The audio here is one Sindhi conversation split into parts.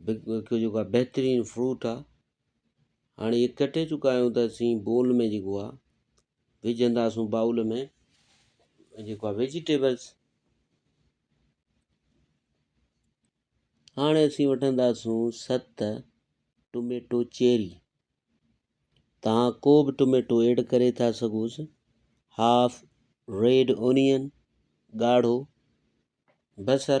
جيڪو آ بهترين فروٽ آ هاڻي اهي ڪٽي چڪا آهيون ته اسين بول ۾ جيڪو آ وجهنداسون بائول ۾ جيڪو آ ويجيٽيبلس هاڻي اسين وٺنداسون ست ٽوميٽو چيري تان ڪو به ٽوميٽو ايڊ ڪري ٿا سگهوس هاف ريڊ اونين ڳاڙهو بصر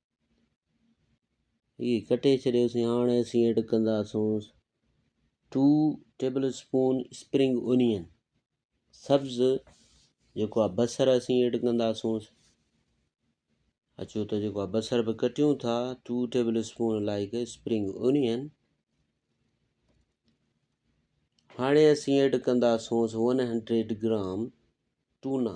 هي ڪٽي ڇڏيوسين هاڻ اسين ايڊ ڪنداسون 2 ٽيبل اسپون اسپرنگ اونين سبز جيڪو آ بصر اسين ايڊ ڪنداسون اچو ته جيڪو آ بصر به ڪٽيون ٿا 2 table spoon like spring onion هاڻي اسين ايڊ ڪنداسون 100 گرام ٽونا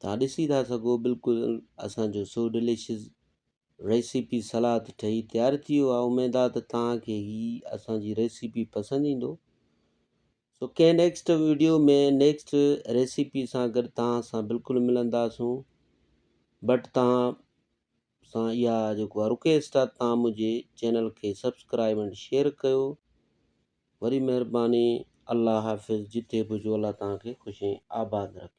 تان ڏسي ٿا سگهو بلڪل اسان جو سو ڊليشس ريسيپي سلاد ٺهي تيار ٿي ويو آهي اميد آهي ته تان کي هي اسان جي ريسيپي پسند ايندو سو ڪنهن نيڪسٽ ويڊيو ۾ نيڪسٽ ريسيپي سان گڏ تان سان بلڪل ملنداسون بٽ تان سان اها جيڪو آ رڪويسٽ آ تان منهنجي چينل کي سبسڪرائب اينڊ شيئر ڪيو وري مهرباني الله حافظ جتي به هجو الله تان کي خوش ۽ آباد رکي.